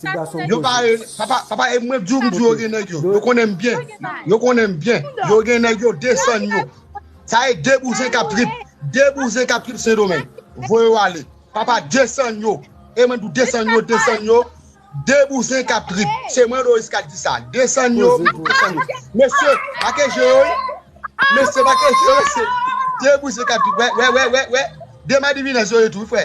Ti gason Yo pa koze. papa papa e mwen diw m diw yo gen nèg yo yo konnen m byen yo konnen m byen yo gen nèg yo desann yo sa e 2 bouzen kap trip 2 bouzen kap trip sendomeng voye yo ale papa desann yo e mwen diw desann yo desann yo 2 bouzen kap trip se mwen Loris kap di sa desann yo Koze pou desann yo mesye make je yo wi mesye make je yo mesye 2 bouzen kap trip wè wè wè wè 2 madivinèz yo ye tou wi frè.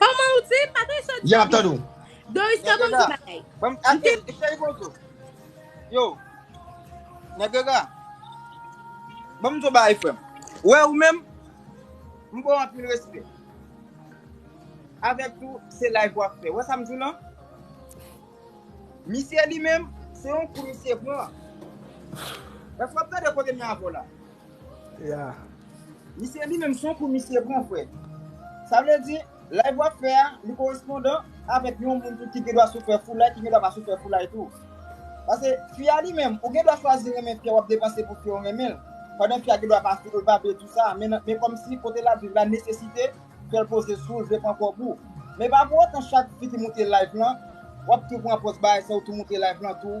Koman ou di? M pa tande sa w di. Yap tande w. Doriska banm ti bagay. Banm ate l cheri bonjou. Yo. Negrega. Banm di w bagay frè m. Ou wè ou menm m ba w anpil respè. Avèk tou se live wap fè. Ou wè sa m di w lan? Misye li menm se yon kou misye pran. Èske wap tande kote m ye avè w la? Ya. Misye li menm son kou misye pran frè. Sa vle di, live wap fè a, li korespondan avèk yon moun tou ki gen dwa sou fè foulay, ki gen dwa pa sou fè foulay tou. Pase, fi a li menm, ou gen dwa chwazi renmen fi a, wap depanse pou fi a ou renmen l, pandan fi a gen dwa pa sou ou, l pa vle tou sa, men men kòmsi kote lap viv la nesesite fèl poze sou ou, l vle pran kòb ou. Men pa pou otan chak fi ki moute live lan, wap tou pran pòz bay sa ou tou moute live lan tou.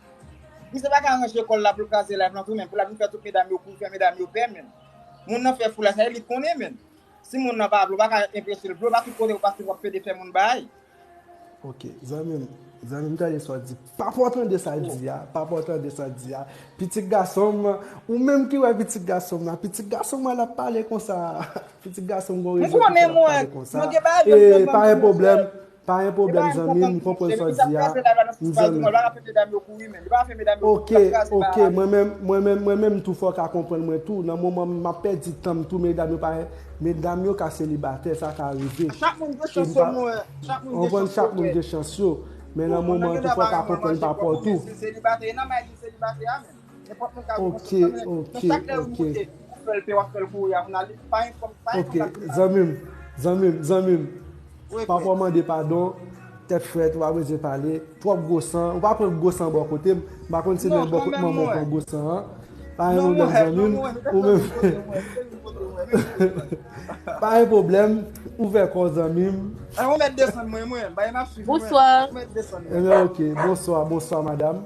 Misye pa ka ranje kòl la poul kraze live lan tou menn, pou lap vin fè tout medam yo kou, fè medam yo pè menn. Moun nan fè foulay sa e li konnen menn. Si moun nan pa vle ou pa ka enpresel vle ou pa tout kote ou pase wap pede fè moun baay. Ok zanmim zanmim tande sa w di papa w tande sa l di a papa w tande sa l di a pitit gason m ou menm ki wè pitit gason m nan pitit gason m an ap pale konsa pitit gason m gon rezon ki fè l ap pale konsa e pa gen pwoblèm Pa gen pwoblèm zanmim m konprann sa w di a m zanmiw. Ok ok mwen menm mwen menm mwen menm tou fòw ka konprann mwen tou nan moman m map pèdi tanm tou medam yo pa medam yo ka selibatè sa ka rive e m pa konprann chak moun gen chans yo men nan moman an tou fòw ka konprann pa paw tou. Ok ok ok Ok zanmi m zanmi m zanmi m Papa w mande padon tèt frèt ou pa bezwen pale twòp gwo san ou pa pran gwo san bò kote m m pa konn si nan bò kote manman w pran gwo san an pa gen pwoblèm zanmi m ou menm pa gen pwoblèm ouvè kò w zanmi m Bonswa Bonswa bonswa madam